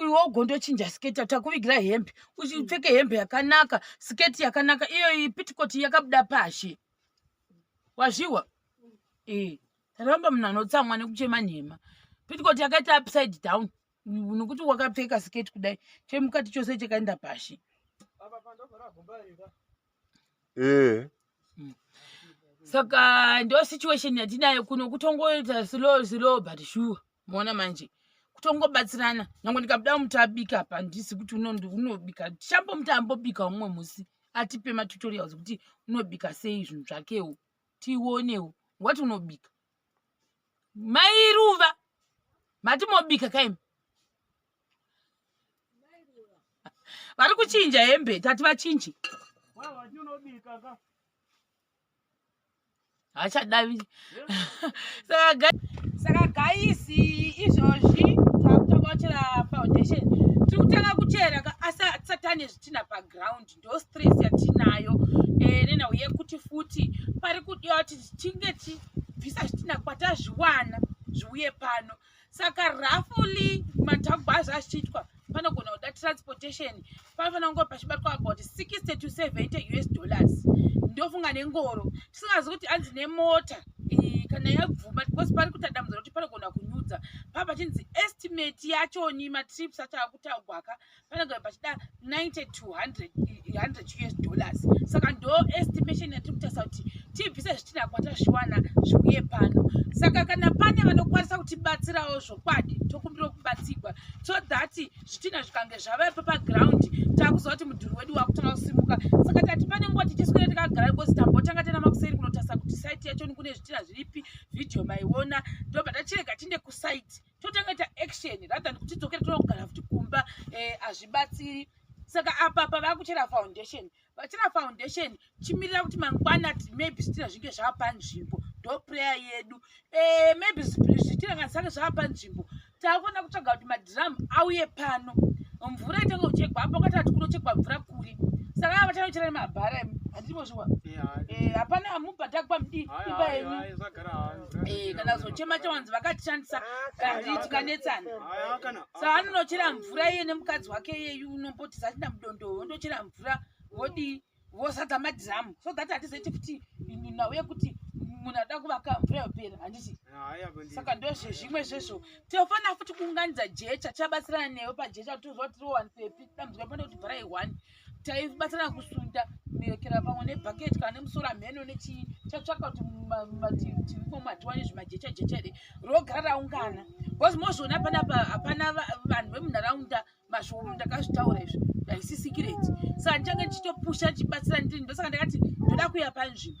iwe ugondochinja sketi takuvigira hembe uchipfeke hembe yakanaka sketi yakanaka iyo pitikoti yakabuda pashi wazviwa ee eh, taramba munhu anotsamwa nekuchema nhema pitikoti yakaita upside down nokuti wakapfeka sketi kudai chemukati chose chakaenda pashi ee eh. hmm. saka ndo situation yatinayo kuno kutongoita slow slow but sure moona manje kutongobatsirana nyange ndikabuda muti abika apa ndisi kuti unobika chambo muti ambobika umwe musi atipe matutorials kuti unobika sei zvinhu zvakewo tionewo wati unobika mairuva mati mobika kaimi vari kuchinja hembe tati vachinje hachadavi saka gaisi izvozvi takutanga kuchera foundation tiri kutanga kuchera asi satani zvitina paground ndo stress yatinayo eh, nenhau yekuti futi pari kudiwa kuti tichinge tibvisa zvitina kwatazviwana zviuye pano saka rafuli matagwazi achiitwa panogona kuda transportation panofanira kunge pachibatwa about 60 to 70 us dollars ndofunga nengoro tisingazi kuti anzi nemota kana yabvuma because pari kuita dambudziro kuti panogona kunyudza papa chinzi estimate yachoni matrips acho akutaugwaka vanogara pachida 90 to 100 100 us dollars saka ndo estimation yatiri kutarisa kuti tibvise zvitina kwatasviwana zviuye pano saka kana pane vanokwanisa kutibatsirawo zvokwadi tokumbira kubatsirwa so that zvitina zvikange zvavaepo paground takuziva kuti mudhuri wedu wakutanga kusimuka saka tati pane nguva tichiswira takagara because tambotanga tena makuseri kunotarisa kuti site yacho nikune zvitina zviripi video maiona ndobva tachirega tinde kusite totanga ita action rather than kuti dzokere tonogara futi kumba eh, hazvibatsiri saka apa pavakuchera foundation vachera foundation chimirira kuti mangwana maybe zvitina zvinge zvava panzvimbo ndo prayer yedu eh, maybe zvitina kana sange zvava panzvimbo takuona kutsvaga kuti madhiramu auye pano mvura itenge kuchekwa apo ngatati kunochekwa mvura kuri saka ava vachanochera nemabhara handiti mozviwa eh, hapana mubhadhakwa mdii imba yenyu Eh, kana kuzochema chawanzi vakatishandisa gari tikanetsana saa anonochera mvura iye nemukadzi wake iyeyu unomboti zachina mudondowo ondochera mvura vodii vosadza madhiramu so that hatizeti kuti nhau yekuti munhu ada kuvaka mvura yopera handiti saka ndozvezvimwe zvezvo tinofanira futi kuunganidza jecha tichabatsirana newe pajecha kuti tozoti tirowanise pi dambudziko pane kuti bvarai one taibatana kusunda muyokera pamwe nebhaketi kana nemusoro amheno nechii chatsvaka kuti mumativi tivi komatiwane zvimajecha jecha here rogara raungana bcause mozviona panapa hapana vanhu vemunharaunda mashoko ndakazvitaura izvi haisi sikireti saka ndichange ndichitopusha ndichibatsira ndiri ndosaka ndakati ndoda kuya panzvimbo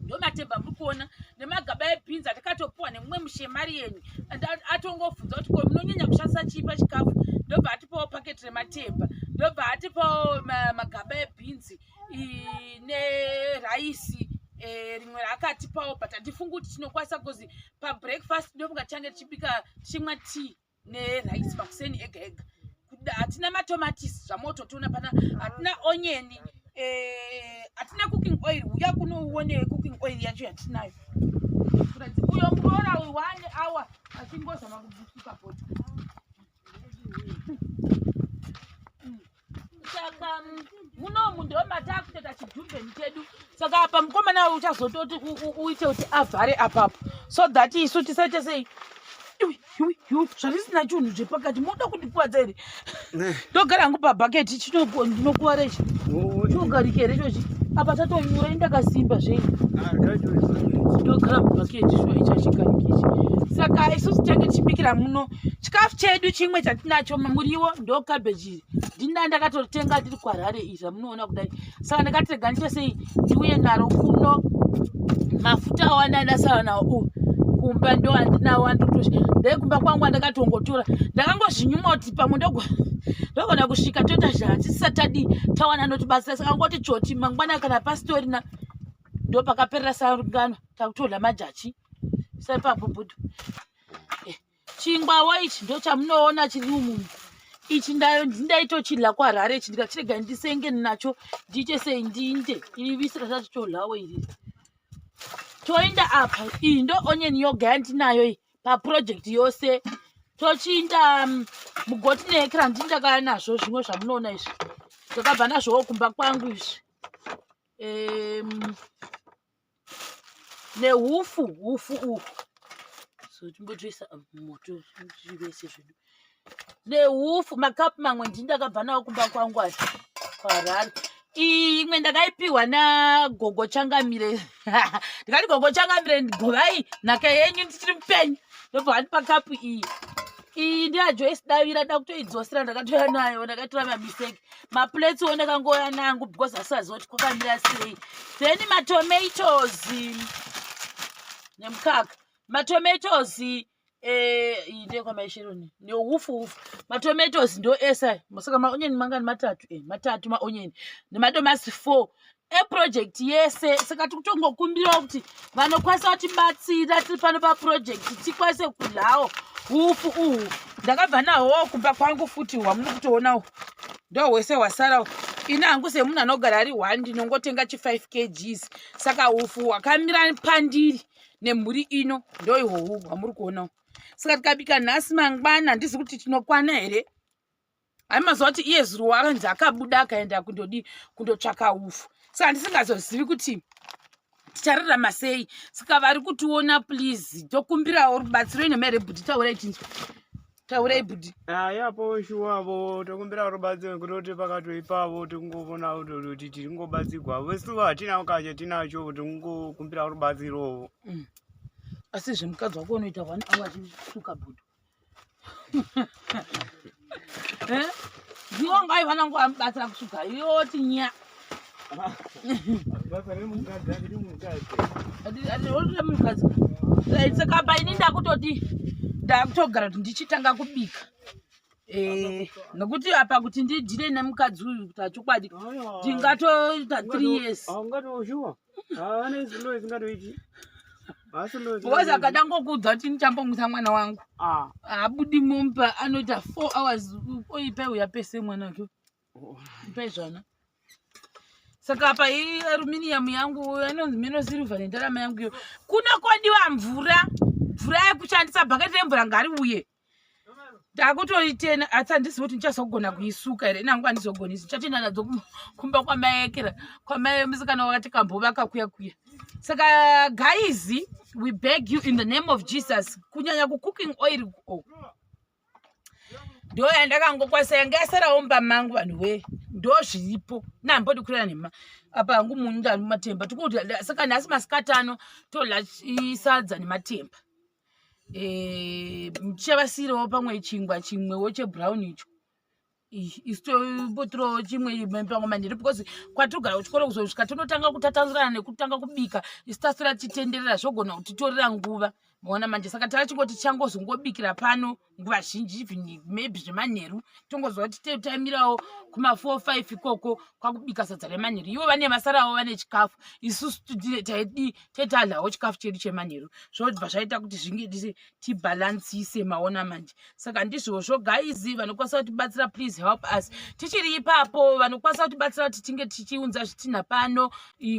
ndomatemba muri kuona nemagaba ebhinzi atakatopuwa nemumwe mushemari yenyu and atongobvunza kuti ko munonyanya kushandisa chii pachikafu ndobva atipawo paketi rematemba ndobva atipawo magaba ebhinzi neraisi e, rimwe raakatipawo but handifungi kuti tinokwanisa bcause pabreakfast ndofunga tichange tichibika tichimwa tea nerice makuseni ega ega hatina matomatisi zvamototiona pana hatina onyeni eh, hatina e, cooking oil uya kunouone cooking oil yacho yatinayo uyo muroora uyu one hour achingozama kubvutuka bota saka mm, munomu ndo mataakutoita chidhumbeni chedu saka apa mukomana we uchazototi uite kuti avhare apapo so that isu tisaite sei zvarisina chinhu zvepakati moda kundikwadza here eh. ndogara hangu pabhaketi ndinokuvara ichi chinogarika here chochi apa tatonyura indakasimba zvei ndogara mubhaketi shuwa ichi achigarikaichi saka isusu tange tichibikira muno chikafu chedu chimwe chatinacho muriwo ndokabeji iri ndina ndakatotenga ndiri kwarare iri ramunoona kudai saka ndakati rega ndiite sei ndiuye naro kuno mafuta awanda ndasara nawo u kumba ndo andinawo andotosha ndai kumba kwangu andakatongotora ndakangozvinyuma kuti pamwe ndogo ndogona kusvika toita zvatisisatadi tawana ndotibatsira saka ngoti choti mangwana kana pasitorina ndo pakaperera sarungano takutorla majachi saipabubudu Chingwawo ichi ndo chamunoona chiri umu ichi ndaitochidla kuharare ichi ndikachirega ndisenge nacho ndiite sei ndiinde iri visi rasati todlawo iri toinda apa iyi ndo onion yoga yandinayo iyi paproject yose tochiinda um, mugoti neekra ndini ndakaya nazvo zvimwe zvamunoona izvi ndakabva nazvowo kumba kwangu izvi um, nehufu hufu uhu so timbotoisa moto tivese zvedu nehufu makapu mamwe ndini ndakabva nawo kumba kwangu asi kwarari iyi imwe ndakaipiwa nagogo changamire ndikati gogo changamire govai nhaka yenyu ndichiri mupenyu ndobva vandipa kapu iyi iyi ndiyajoisidavira dakutoidzosera ndakatoya nayo ndakatora mamiseki maplates one kangouya nangu because asaziva kuti kwakamira sei then matomatoes nemukaka matomatoes eh, ndekwamaisheroni neufu ufu matomatoes ndo esa saka maonyeni mangani matatu eh, matatu maonyeni nemadomasi four eproject yese saka tiri kutongokumbirawo kuti vanokwanisa kutibatsira tiri pano paprojekti tikwanise kudlawo ufu uhu ndakabva nahwo kumba kwangu futi hwamuri kutoonawo ndo hwese hwasarawo ini hangu semunhu anogara ari one ndinongotenga chi5 kgs saka ufu hwakamira pandiri nemhuri ino ndo ihwohu hwamuri kuonawo saka tikabika nhasi mangwana handizi kuti tinokwana here hai mazuva kuti iye zuro wakanzi akabuda akaenda kundodii kundotsvaka ufu saka ndisingazozivi kuti tichararama sei saka vari kutiona please tokumbirawo rubatsiro ine mere bhudhi taurai chinzwa taurai bhudhi ayapo shuwavo tokumbirawo rubatsiro nekuti kuti pakatoipavo tikungovona kuti tiri kungobatsirwa vesuva hatina kacha tinacho kuti kungokumbirawo rubatsirowo mm. asi zvemukadzi wako unoita one hour achisuka bhudhi eh? ndiwo ngai vanangu vamubatsira kusuga yoti nya munhukadzi saka pa ini ndakutoti ndakutogara kuti ndichitanga kubika eh, nokuti apa kuti ndidhire nemukadzi uyu kuti achokwadi ndingatoita three years haana izvi loyi zingatoiti because akadango kuudza kuti ndichambomwisa mwana wangu ah. haabudi momba anoita four hours oipai uya pese mwana wake oh. ipai zvana saka apa iyi aruminium yangu anonzi meno silver nendarama yangu iyo kuna kwadiwa mvura mvura yekushandisa bhaketi remvura ngari uye ndakutoitena asi handizivi kuti ndichazogona kuisuka here nangu handizogoni isu ndichatoenda nadzo kumba kwamaekera kwamaye musikana wakati kambovaka kuya kuya saka guys we beg you in the name of jesus kunyanya kucooking oil oh. ndo yandakangokwasa yanga yasarawo mba mangu vanhu wee ndo zviripo nambodi kurera nema apa hangu munhu ndani mumatemba tikudya saka nhasi masikati ano todya sadza nematemba eh, muchavasiirawo pamwe chingwa chimwewo chebrown icho isitopotirawo chimwe pamwe manhiri because kwatigara kuchikoro kuzosvika tinotanga kutatanzurana nekutanga kubika isitasira titenderera zvogona kutitorera nguva maona manje saka tava chingoti changozongobikira pano nguva zhinji even maybe zvemanheru tongoziva kuti te taimirawo kumafour five ikoko kwakubika sadza remanheru ivo vane vasarawo vane chikafu isusu taidii taitadlawo chikafu chedu chemanheru zvobva zvaita kuti zvinge tibhalansise maona manje saka ndizvozvo guys vanokwanisa kutibatsira please help us tichiri ipapo vanokwanisa kutibatsira kuti tinge tichiunza zvitinha pano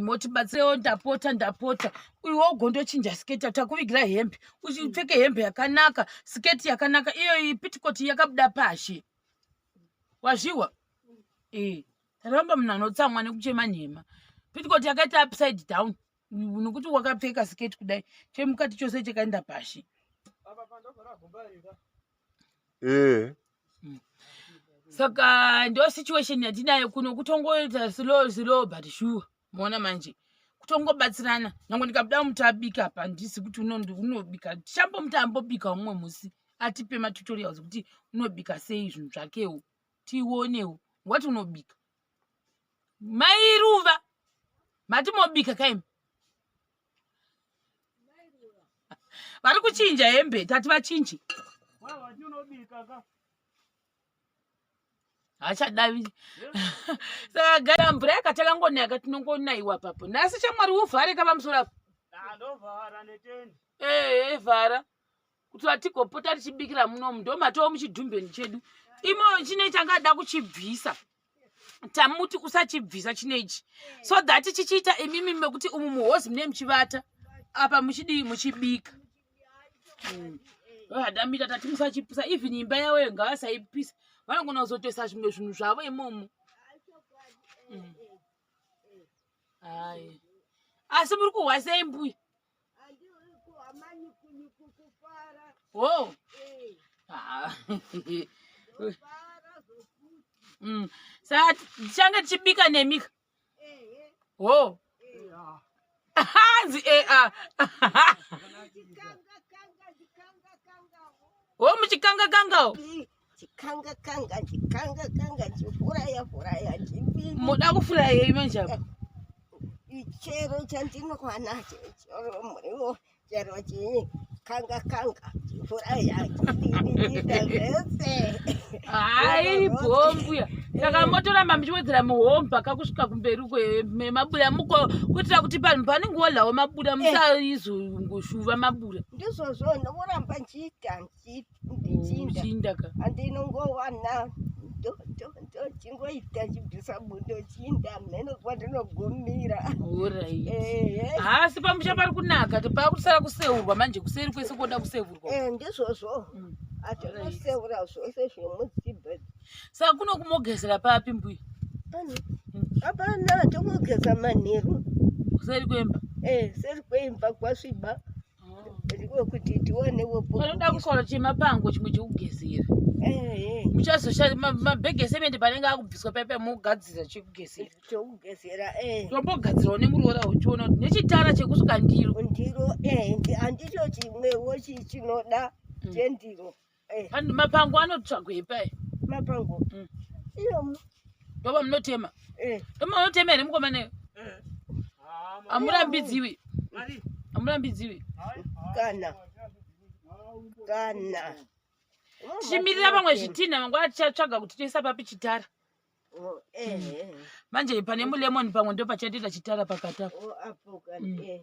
motibatsirewo ndapota ndapota uiwo ugondochinja sketa takuvigira hembe uchipfeke hembe yakanaka siketi yakanaka iyoyi pitikoti yakabuda pashi wazviwa e ramba munhu anotsamwa nekuchema nhema pitikoti yakaita upside down nokuti wakapfeka siketi kudai chemukati chose chakaenda pashi ee eh. mm. saka ndo situation yatinayo kuno kutongoita slow slow but sure moona manje kutongobatsirana nyange ndikabuda muti abika apa ndisi kuti unobika chambo muti ambobika umwe musi atipe matutorials kuti unobika sei zvinhu zvakewo tionewo ngwati unobika mairuva mati mobika kaimi vari kuchinja hembe tati vachinje hachadavi saka gara mvura yakatanga ngonaka tinongonaiwa papo nhasi chamwari uvhare ka pamusoro apo ee vhara kuti vatigopota tichibikira munomu ndomatowo muchidhumbeni chedu imo chine changada kuchibvisa tamuti usachibvisa chino ichi so that chichiita imimi mekuti umu muhozi mune muchivata apa muchidii muchibika mm. adamita tati musachipisa even imba yavo yo ngavasaipisa vanogona kuzotoisa zvimwe zvinhu zvavo imomo mm. asi muri kuhwasei mbuya Whoa. Ah. mm. Sasa change chibika nemi. Whoa. Hanzi eh ah. Wo muchikanga kanga. chikanga kanga chikanga kanga chifuraya furaya chipini moda kufuraya yei manje apa chero chandinokwana chero muriwo chero chii kanga kanga chifuraya chipiniita zvese hai bhombuya saka motoramba muchiwedzera muhomba kakusvika kumberi kwemabuda muko kuitira kuti panhu panenge wolawo mabuda eh. musaizongoshuva mabuda ndizvozvo ndovoramba nchiita ndichinda andinongowana ndochingoita chibvisa bundo chinda mheno kwatinogumira haasi pamusha pari kunaka pakusara kuseurwa manje kuseri kwese koda kuseurwa eh, ndizvozvo mm. atinoseura zvose zvemuzibe saka kuno kumogezera papi mbuya hapana tomogeza manheru kuseri kwemba eh, seri kwemba kwasviba kuti tionewo panoda kusvara chemapango chimwe chekugezera muchazoshanda mabhegi esemende panenge akubviswa paipai mogadzira chekugezera chekugezera tombogadzirawo nemuroora uchiona kuti nechitara chekusuka ndiro ndiro handicho chimwewo chinoda chendiro Eh. Vanhu mapango anotsvagwei pai mapango Mm. iyomu ndoba munotema eh ndoba munotema here mukomana amurambidziwi Mari. amurambidziwi kana kana tichimirira vamwe zvitinha mangwana tichatsvaga kuti toisa papi chitara Oh, eh, eh. manje pane mulemon pamwe ndopachatoita chitara pakati apo Oh, apo kana Mm. eh